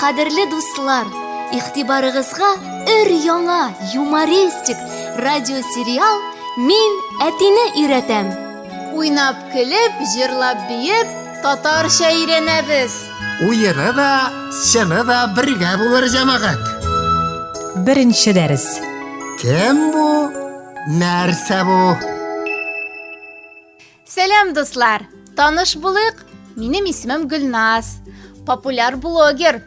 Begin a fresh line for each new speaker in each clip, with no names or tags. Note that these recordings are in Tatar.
Кадерле
дуслар, игътибарыгызга өр-яңа юмористик радиосериал Мин әтине өйрәтәм. Уйнап,
көлеп, җырлап, биеп, татарча өйрәнәбез. Уены да,
чыны да бергә булыр, җәмәгать.
Беренче дәрес. Кем бу,
нәрсә бу?
Сәлам, дуслар! Таныш булыйк, минем исемем Гөлназ. Популяр блогер.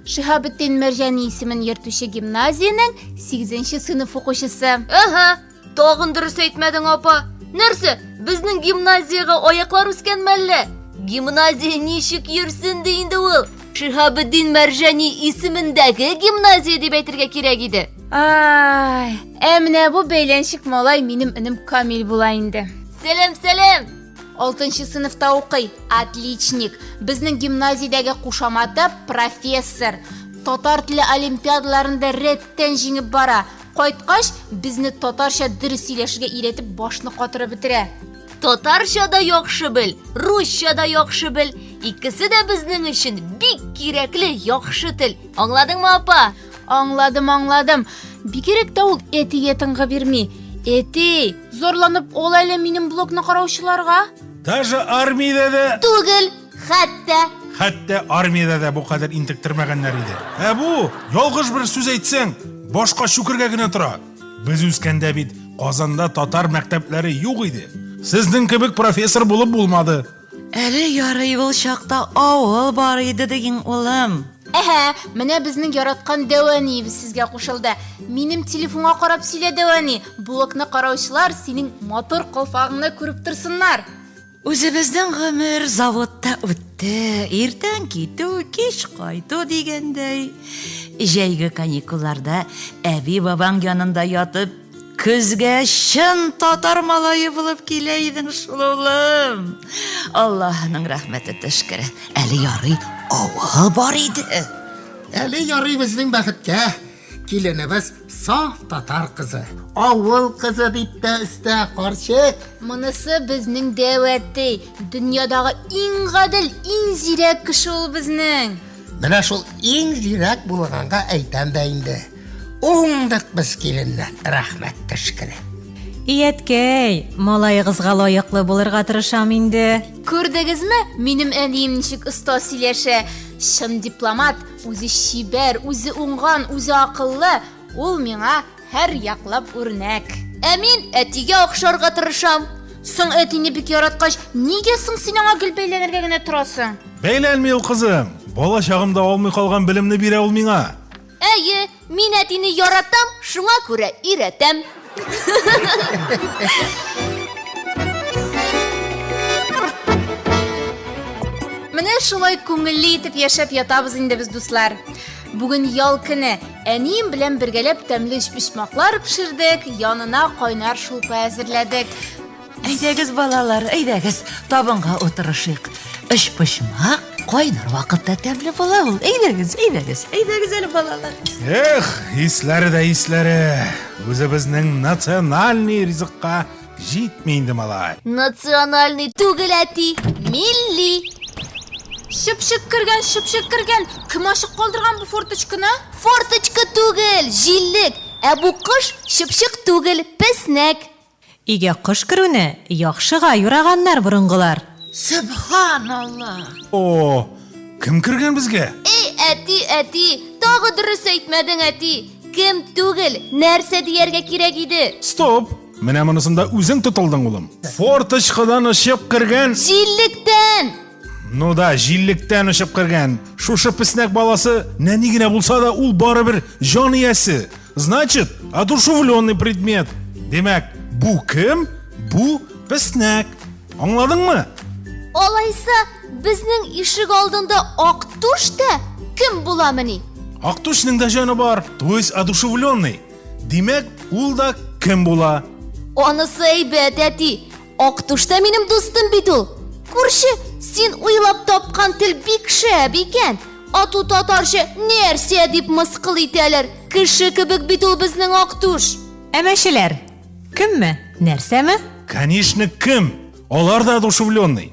Шиһабетдин Мәрҗани исемен йөртүче гимназиянең 8нче сыйныф укучысы. Әһә,
тагын дөрес әйтмәдең, апа. Нәрсә, безнең гимназиягә аяклар үскән мәллә? Гимназия ничек йөрсен ди инде ул? Шиһабетдин Мәрҗани исемендәге гимназия дип әйтергә кирәк иде. Ай,
ә менә бу бәйләнчек малай минем энем Камил була инде. Сәлам, сәлам!
Алтынчы
сыныфта укый, отличник. Безнең гимназиядәге кушаматы профессор. Татар теле олимпиадаларында рәттән җиңеп бара. Кайткач, безне татарча дөрес сөйләшергә өйрәтеп башны катырып бетерә. Татарча
да яхшы бел, русча да яхшы бел. Икесе дә безнең өчен бик кирәкле яхшы тел. Аңладыңмы, апа? Аңладым, аңладым.
Бигерәк тә ул әтигә тыңгы бирми. Әти, зарланып ул әле минем блокны караучыларга. Даже
армиядә дә, Түгел, хәтта хәтта армиядә дә бу кадәр интектермәгәннәр иде. Ә бу, ялгыш бер сүз әйтсәң, башка чүкергә генә тора. Без үскәндә бит Казанда татар мәктәпләре юк иде. Сезнең кебек профессор булып булмады. Әле ярый
ул чакта авыл бар иде диген, улым. Әһә, менә
безнең яраткан Дәвәниебез сезгә кушылды. Минем телефонга карап сөйлә, Дәвәни, блокны караучылар синең матур калфагыңны күреп торсыннар. Үзебезнең
гомер заводта үтте, иртән китү, кич кайту дигәндәй. Җәйге каникулларда әби-бабаң янында ятып, көзгә чын татар малае булып килә идең шул, улым. Аллаһының рәхмәте төшкере, әле ярый авыл бар иде. Әле
ярый безнең бәхеткә, Киленебез саф татар кызы. Авыл кызы, дип тә өстә карчык. Монысы
безнең дәвәти. Дөньядагы иң гадел, иң зирәк кеше ул безнең. Менә шул
иң зирәк булганга әйтәм дә инде, уңдык без киленнән, рәхмәт төшкере. И әткәй,
малаегызга лаеклы булырга тырышам инде. Күрдегезме,
минем әнием ничек оста сөйләшә! Чын дипломат! Үзе чибәр, үзе уңган, үзе акыллы, ул миңа һәр яклап үрнәк. Ә мин әтигә
охшарга тырышам. Соң әтине
бик яраткач, нигә соң син аңа гел бәйләнергә генә торасың? Бәйләнми ул,
кызым. Бала чагымда алмый калган белемне бирә ул миңа. Әйе,
Мин әтине яратам, шуңа күрә өйрәтәм.
Менә шулай күңелле итеп яшәп ятабыз инде без дуслар. Бүген ял көне. Әнием белән бергәләп тәмле өчпочмаклар пешердек, янына кайнар шулпа әзерләдек. Әйдәгез,
балалар, әйдәгез, табынга утырышыйк. Өчпочмак кайнар вакытта тәмле була ул. Әйдәгез, әйдәгез, әйдәгез әле, балалар. Эх, исләре дә исләре.
Үзебезнең национальный ризыкка җитми инде малай. Национальный
түгел әти, милли.
Шыпшык кергән, шыпшык кергән. Кем ачык калдырган бу форточканы? Форточка
түгел, җиллек. Ә бу кош шыпшык түгел, песнәк. Өйгә
кош керүне яхшыга юраганнар борынгылар. Сөбханаллаһ!
О,
кем кергән безгә? Эй, әти, әти,
тагы дөрес әйтмәдең, әти! Кем түгел, нәрсә дияргә кирәк иде? Стоп! Менә
монысында үзең тотылдың, улым. Форточкадан очып кергән. Җиллектән!
Ну да,
җиллектән очып кергән. Шушы песнәк баласы нәни генә булса да, ул барыбер җан иясе. Значит, одушевленный предмет. Димәк, бу кем? Бу песнәк. Аңладыңмы? Алайса,
безнең ишек алдында ак туш та кем буламыни? Ак тушның да
җаны бар, то есть одушевленный. Димәк, ул да кем була?
Анысы әйбәт, әти. Ак түштә минем дустым бит ул. Күрше, син уйлап тапкан тел бик шәп икән. Ату татарча нәрсә дип мыскыл итәләр? Кеше кебек бит ул безнең ак түш. Әмәчеләр.
Кемме? Нәрсәме? Конечно,
кем? Алар да одушевленный.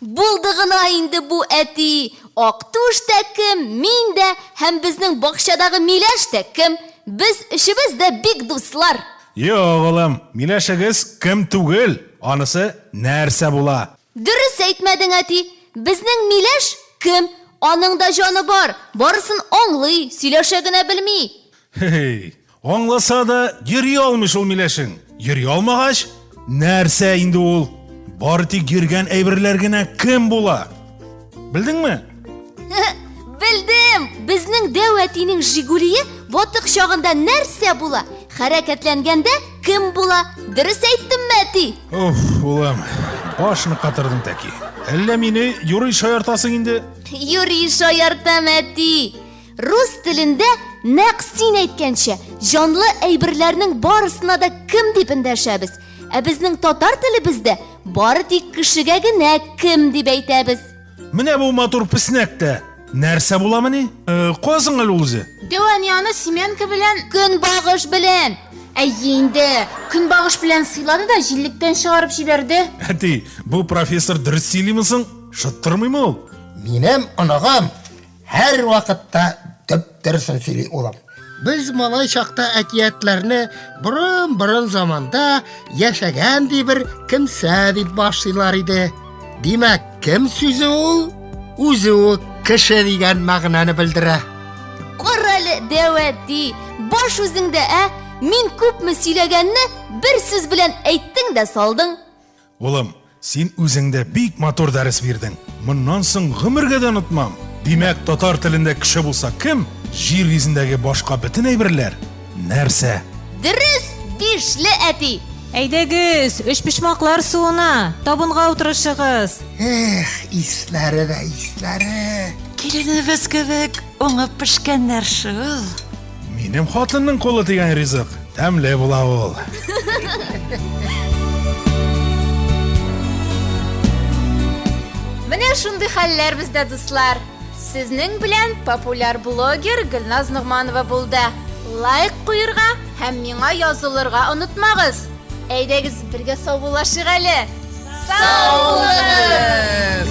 Булды гына
инде бу, әти! Актүш тә кем, мин дә һәм безнең бакчадагы миләш тә кем? Без өчебез дә бик дуслар! Юк, улым,
миләшегез кем түгел, анысы нәрсә була? Дөрес әйтмәдең,
әти! Безнең миләш кем? Аның да җаны бар, барысын аңлый, сөйләшә генә белми! Һе-һей!
Аңласа да, йөри алмый шул миләшең. Йөри алмагач, нәрсә инде ул? Бары тик йөргән әйберләр генә кем була? Белдеңме? Белдем!
Безнең дәү әтинең Жигулие ватык чагында нәрсә була? Хәрәкәтләнгәндә кем була? Дөрес әйттемме, әти? Уф, улым,
башны катырдың тәки. Әллә мине юрый шаяртасың инде? Юрий
шаяртам, әти. Рус телендә нәкъ син әйткәнчә, җанлы әйберләрнең барысына да кем дип эндәшәбез. Ә безнең татар телебездә бары тик кешегә генә кем дип әйтәбез. Менә бу
матур песнәк тә нәрсә буламыни? Э, Казың әле ул үзе. Дәванияны Семенка
белән Көнбагыш белән.
Әйе инде,
көнбагыш белән сыйлады да җиллектән чыгарып җибәрде. Әти, бу
профессор дөрес сөйлиме соң? Шыттырмыймы ул? Минем
оныгым һәрвакытта дөп-дөресен сөйли, улым. Без малай чакта әкиятләрне борын-борын заманда яшәгән, ди, бер кемсә дип башлыйлар иде. Димәк, кем сүзе ул үзе үк кеше дигән мәгънәне белдерә. Кара әле,
дәү әти, баш үзеңдә, ә? Мин күпме сөйләгәнне бер сүз белән әйттең дә салдың. Улым,
син үзең дә бик матур дәрес бирдең. Моннан соң гомергә дә онытмам. Димәк, татар телендә кеше булса кем? Җир йөзендәге башка бөтен әйберләр нәрсә? Дөрес,
бишле әти! Әйдәгез,
өчпочмаклар суына, табынга утырышыгыз. Эх,
исләре дә исләре. Киленебез
кебек уңып пешкәннәр шул. Минем
хатынның кулы дигән ризык тәмле була ул.
Менә шундый хәлләр бездә, дуслар. Сезнең белән популяр блогер Гөлназ Ногманова булды. Лайк куерга һәм миңа язылырга онытмагыз. Әйдәгез бергә саубуллашыйк әле. Саубуллашыгыз!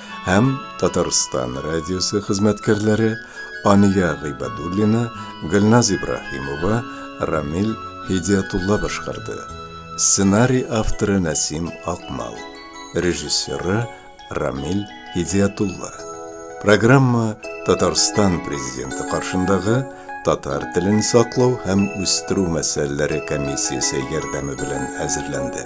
һәм Татарстан радиосы хезмәткәрләре Ания Гыйбадуллина, Гөлназ Ибраһимова, Рамил Һидиятулла башкарды. Сценарий авторы Нәсим Акмал, режиссеры Рамил Һидиятулла. Программа Татарстан президенты каршындагы татар телен саклау һәм үстерү мәсьәләләре комиссиясе ярдәме белән әзерләнде.